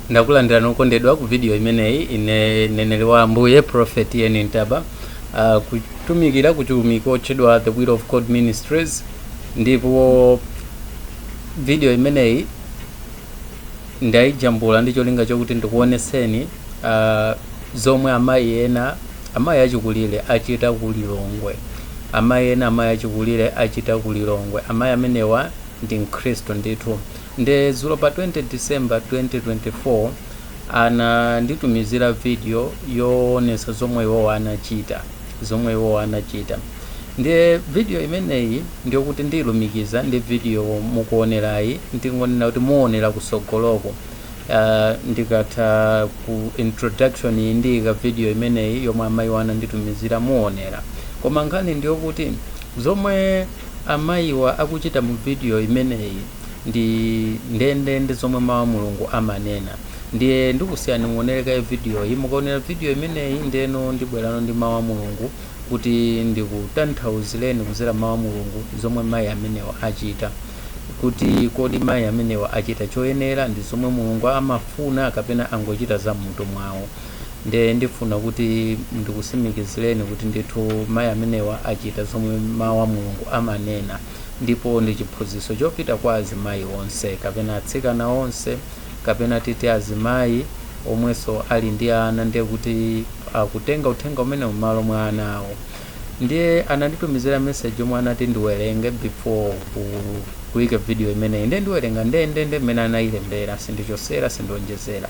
ndakulandira nokondedwa ku video imeneyi ine mneneri wa ambuye prophet ian ntaba uh, kutumikira ku utumiki otchedwa the will of god ministries ndipo video imeneyi ndayijambula ndi cholinga chokuti ndikuoneseni uh, zomwe amayi ena amayi achikulire achita ku lilongwe amayi amenewa ndi mkhristu ndithu Nde dzulo pa 20 December 2024 ananditumizira video yoonetsa zomwe iwowa anachita, zomwe iwowa anachita. Ndiye video imeneyi ndiyokuti ndiilumikiza ndi video mukuonerayi, ndingonena kuti muonera kusogoloko. Uh, ndikatha ku introduction iyi ndiyika video imeneyi yomwe amayiwa ananditumizira muonera. Koma nkhani ndiyokuti zomwe amayiwa akuchita mu video imeneyi ndi ndendende zomwe mawu a mulungu amanena ndiye ndikusiyani muonere kaye vidiyoyi mukaonera vidiyo imeneyi ndeno ndibwerano ndi mawu a mulungu kuti ndikutanthauzireni kuzera mawu a mulungu zomwe mayi amenewa achita kuti kodi mayi amenewa achita choyenera ndi zomwe mulungu amafuna kapena angochita za mmutu mwawo nde ndifuna kuti ndikusimikizireni kuti ndithu mayi amenewa achita zomwe mawu a mulungu amanena ndipo ndi chiphunzitso chopita kwa azimayi onse kapena atsikana onse kapena titi azimayi omwenso ali ndi ana ndiye kuti akutenga uthenga umenewu m'malo mwa ana awo ndiye ananditumizira message yomwe anati ndiwerenge before kuika video imeneyi ndiye ndiwerenga ndendende mmene anayilembera sindichosera sindionjezera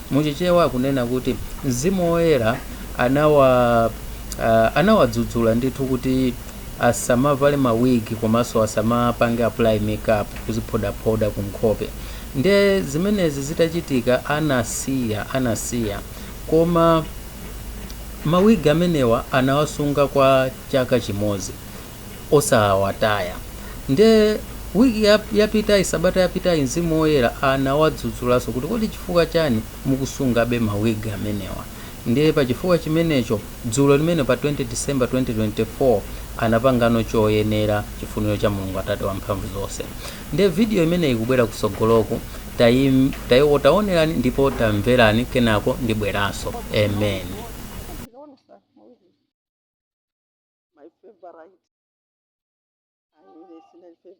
Mu Chichewa akunena kuti Mzimu Woyera anawa uh, anawadzudzula ndithu kuti asamavale ma wig komanso asamapange apply makeup kuziphodaphoda ku nkhope. Nde zimenezi zitachitika anasiya anasiya koma ma wig amenewa anawasunga kwa chaka chimodzi. osawataya nde wiki yap- yapitayi sabata yapitayi mzimu woyera anawadzudzulaso kuti kodi chifukwa chani mukusungabe mawigi amenewa ndiye pa chifukwa chimenecho dzulo limene pa 20 december 2024 anapangano choyenera chifuniro cha mulungu atate wa mphamvu zonse ndiye vidiyo imeneyi ikubwera kusogoloku tayi- tayi- taonerani ndipo tamverani kenako ndibweraso amen my favorite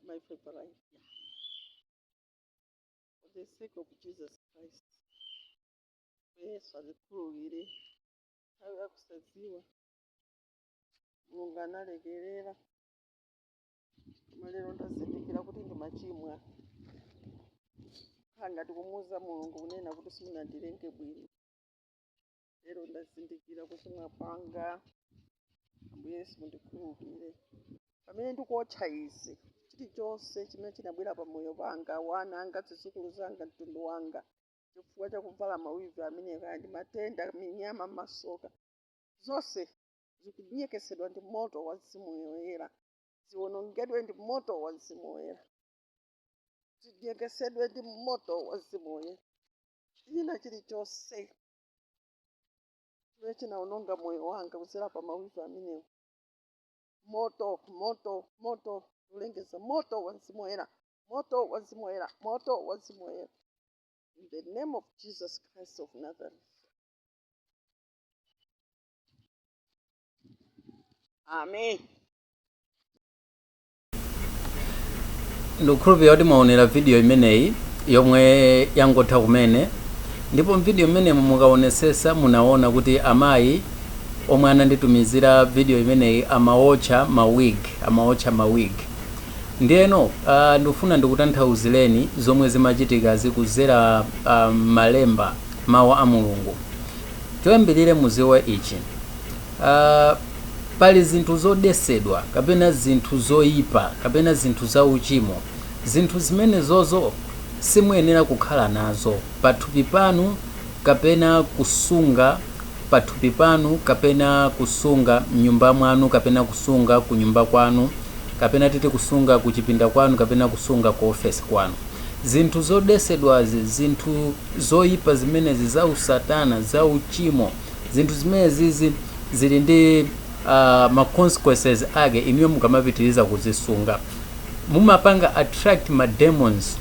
my favorite for the sake of jesus christ yesu atikhululukire nthawi yakusadziwa mulungu analekerera koma lero ndazindikira kuti ndimachimwa kukhala ngati kumuuza mulungu kunena kuti simunandilenge bwino lero ndazindikira kuchimwa kwanga ambuye yesu mundikhululukire pamene ndikuotcha izi chilichonse chimene chinabwera pa moyo panga wana anga zidzukulu zanga mtundu wanga chifukwa chakuvala mawivi amenewa kaya ndi matenda minyama masoka zonse zikunyekesedwa ndi moto wa mzimu woyera ziwonongedwe ndi moto wa mzimu woyera zinyekesedwe ndi moto wa mzimu woyera china chilichonse chimene chinawononga moyo wanga kudzera pa mawivi amenewa moto moto moto kulengeza moto wa mzimu woyera moto wa mzimu woyera moto wa mzimu woyera in the name of jesus christ of nazareth amen ndikukhulupirira kuti mwaonera video imeneyi yomwe yangotha kumene ndipo muvidiyo imenemo mukaonesesa munaona kuti amayi omwe ananditumizira video imeneyi amaotcha ma wig amaotcha ma wig ndiyeno uh, ndikufuna ndikutanthauzireni zomwe zimachitika zikuzera uh, mmalemba mawu a mulungu choyambirire muziwe ichi uh, pali zinthu zodetsedwa, kapena zinthu zoipa, kapena zinthu zauchimo, zinthu zimenezozo simuyenera kukhala nazo pathupi panu, kapena kusunga pathupi panu, kapena kusunga m'nyumba mwanu, kapena kusunga kunyumba kwanu, kapena titi kusunga kuchipinda kwanu, kapena kusunga ku ofesi kwanu. Zinthu zodetsedwazi, zinthu zoipa zimenezi zausatana, zauchimo. zinthu zimenezizi zili ndi uh, ma consequences ake inuyo mukamapitiriza kuzisunga mumapanga attract ma demons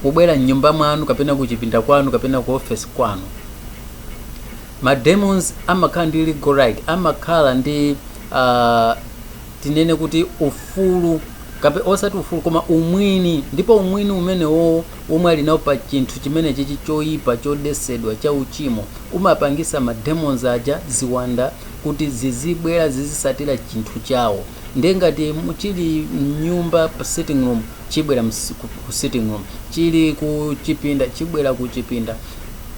kubwera mnyumba mwanu kapena kuchipinda kwanu kapena ku office kwanu ma demons amakhala ndi legal right amakhala ndi uh, tinene kuti ufulu kape osati ufulu koma umwini ndipo umwini umenewo womwe ali nawo pa chinthu chimenechichi choyipa, chodetsedwa, cha uchimo, umapangitsa ma demons aja, ziwanda, kuti zizibwera zizitsatira chinthu chawo. Ndiye ngati mu- chili mnyumba pa sitting room chibwera ku sitting room, chili ku chipinda chibwera ku chipinda,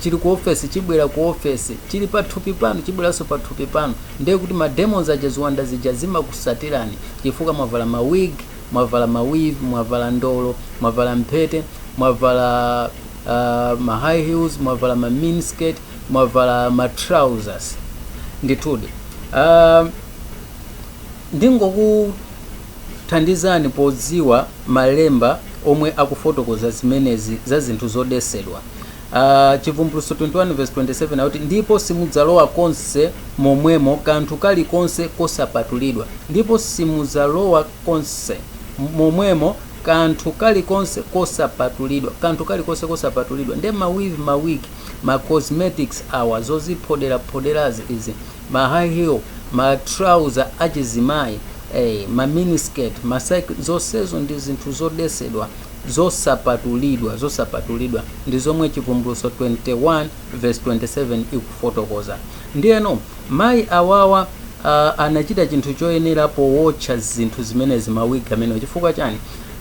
chili ku ofesi chibwera ku ofesi, chili pa thupi panu chibweranso pa thupi panu. Ndiye kuti ma demons aja, ziwanda zija zimakutsatirani chifukwa mwavala ma wig, mwavala ma weave, mwavala ndolo, mwavala mphete, mwavala uh, ma high heels, mwavala ma mini skirt, mwavala ma trousers. Ndithudi uh, ndingokuthandizani podziwa malemba omwe akufotokoza zimenezi za zinthu zodesedwa. Chivumbulutso 21 vesi 27 akuti, Ndipo simudzalowa konse momwemo kanthu kali konse kosapatulidwa, ndipo simudzalowa konse momwemo kanthu kali konse kosapatulidwa, kanthu kali konse kosapatulidwa, ndiye ma weave, ma wig, ma cosmetics awa, zoziphodera phoderazi izi, ma high heel, ma trouser achizimayi, ee, ma mini skirt, ma cycling, zonsezo ndi zinthu zodesedwa. zosapatulidwa, zosapatulidwa. Ndi zomwe Chivumbulutso 21 vesi 27 ikufotokoza. Ndiyeno, mayi awawa anachita chinthu choyenera powotcha zinthu zimenezi, mawigi amenewo. Chifukwa chani?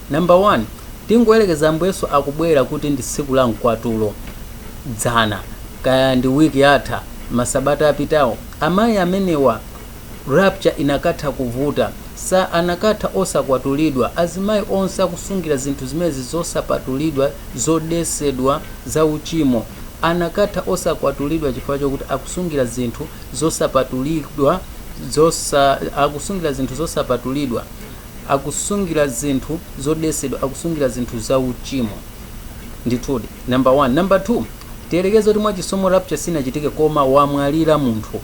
Namba 1, tingoyerekeza Ambuye Yesu akubwera kuti ndi tsiku la Mkwatulo, dzana, kaya ndi wiki yatha, masabata apitawo, amayi amenewa, Rapture inakatha kuvuta. Sa anakatha osakwatulidwa. Azimayi onse akusungira zinthu zimenezi zosapatulidwa, zodetsedwa, za uchimo. Anakatha osakwatulidwa chifukwa chokuti akusungira zinthu zosapatulidwa, akusungira zinthu zosapatulidwa, akusungira zinthu zodetsedwa, akusungira zinthu za uchimo. Ndithudi. Number one. Number two. Tiyerekeze kuti mwa chisomo rapture sinachitike koma wamwalira munthu.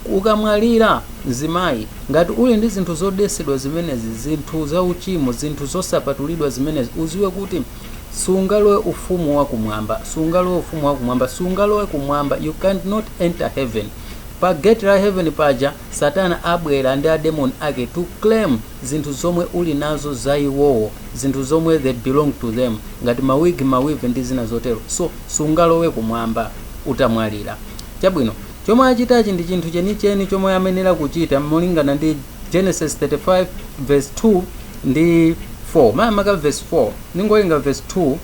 Ukamwalira, mzimayi, ngati uli ndi zinthu zodetsedwa zimenezi, zinthu zauchimo, zinthu zosapatulidwa zimenezi, udziwe kuti sungalowe Ufumu wa Kumwamba. Sungalowe Ufumu wa Kumwamba. Sungalowe Kumwamba. You can not enter Heaven. Pa gate la Heaven paja, Satana abwera ndi ademoni ake to claim zinthu zomwe uli nazo za iwowo, zinthu zomwe they belong to them, ngati ma wig, ma weave ndi zina zotero. So, sungalowe Kumwamba utamwalira. Chabwino. Chomwe achitachi ndi chinthu chenicheni chomwe amayenera kuchita molingana ndi Genesis 35 verse 2 ndi 4 makamaka verse 4. Ndingowerenga verse 2,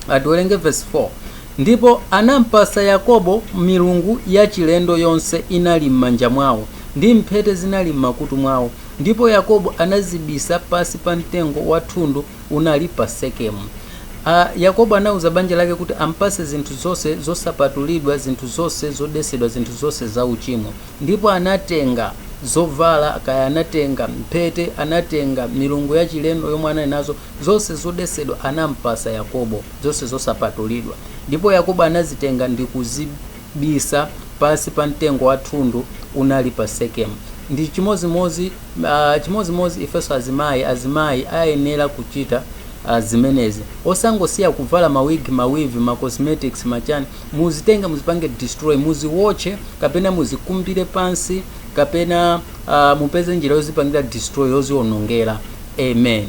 ah, tiwerenge verse 4. Ndipo anampasa Yakobo milungu yachilendo yonse inali m'manja mwawo, ndi mphete zinali m'makutu mwawo, ndipo Yakobo anazibisa pansi pa mtengo wa thundu unali pa Sekemu. Yakobo anauza banja lake kuti ampase zinthu zonse zosapatulidwa, zinthu zonse zodesedwa, zinthu zonse za uchimo. Ndipo anatenga zovala, kaya anatenga mphete, anatenga milungu ya chilendo yomwe anali nazo, zonse zodesedwa anampasa Yakobo, zonse zosapatulidwa. Ndipo Yakobo anazitenga ndikuzibisa pansi pa mtengo wa thundu unali pa Sekemu. Ndi chimodzimodzi. Chimodzimodzi ifenso azimayi, azimayi ayenera kuchita zimenezi. Osangosiya kuvala ma wig, ma weave, ma cosmetics, ma chani. Muzitenge muzipange destroy, muziwotche kapena muzikumbire pansi kapena mupeze njira yozipangira destroy, yozionongera. Amen.